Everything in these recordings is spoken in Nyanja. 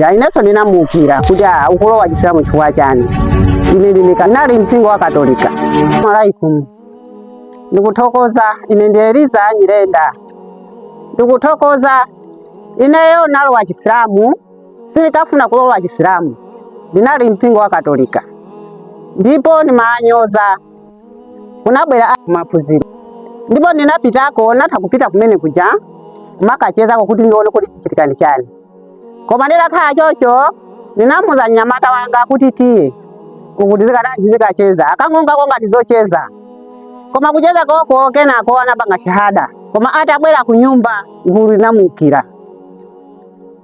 Ya, inenso ndinamuukira kuti ah ukulowa chisilamu chifukwa chani ine ndi- ndinali mpingo wa katolika alaikum ndikuthokoza ine ndi eliza nyirenda ndikuthokoza ineyo nalowa chisilamu sindikafuna kulowa chisilamu ndinali mpingo wa katolika ndipo ndimanyoza kunabwera a- maphunziro ndipo ndinapitako natha kupita kumene kuja kumakachezako kuti ndione kuti chichitika ni chani koma nditakhala chocho ndinamuza mnyamata wanga kuti tiye ukuti zikadati zikacheza akangonkako ngati zocheza koma kucheza koko kenako anapanga shahada koma atabwera ku nyumba gulu linamuukira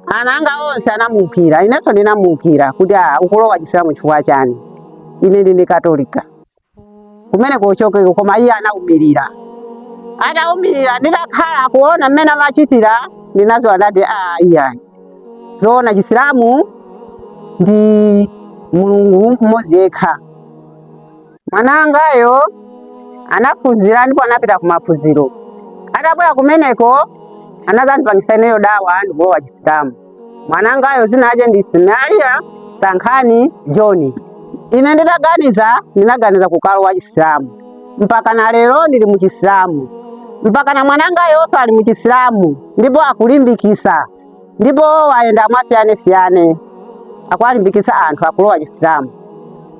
ana anga onse anamuukira inenso ndinamuukira kuti "Ah, ukulowa chisilamu chifukwa chani ine ndine katolika kumeneko uchokeko koma iye anaumirira ataumirira nditakhala kuona mmene amachitira ndinaziwa ndati aa iyayi zoona chisilamu ndi mulungu mmodzi yekha mwanangayo anaphunzira ndipo anapita kumaphunziro atabwera kumeneko anazandipangisa ineyo dawa ndikulowa chisilamu mwanangayo dzina lake ndi Ismaila Sankhani John. Ine ndinaganiza ndinaganiza kukalowa Chisilamu mpaka na lero ndili mu Chisilamu mpaka na mwanangayonso ali mu Chisilamu ndipo akulimbikisa ndipo wayenda mwasiyanasiyana akuwalimbikisa anthu akulowa Chisilamu.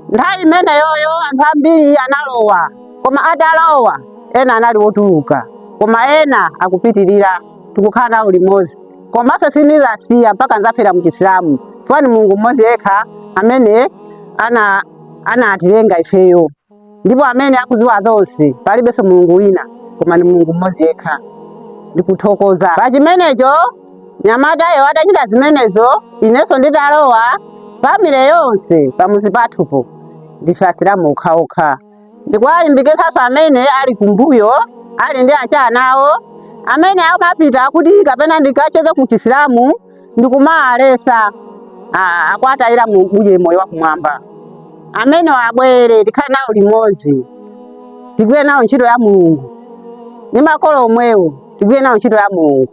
Nthawi imeneyoyo anthu ambiri analowa koma atalowa ena anali wotuluka koma ena akupitirira tikukhala nawo limodzi. komanso sindizasiya mpaka nzafera mchisilamu chifukwa ni mulungu mmodzi yekha amene anatilenga ifeyo ndipo amene akuziwa zonse palibenso mulungu wina koma ni mulungu mmodzi yekha ndikuthokoza pa chimenecho mnyamatayo atachita zimenezo inenso nditalowa famile yonse pamuzi pathupo ndife asilamu okhaokha ndikuwalimbikitsanso amene ali kumbuyo ali ndi achana awo amene amapita kuti kapena ndikacheze ku chisilamu ndikumaalesa ah, akwatayira mu- uje moyo wa kumwamba amenewo abwere tikhale nawo limodzi tigwire nawo ntchito ya mulungu ndi makolo omwewo tigwire nawo ntchito ya mulungu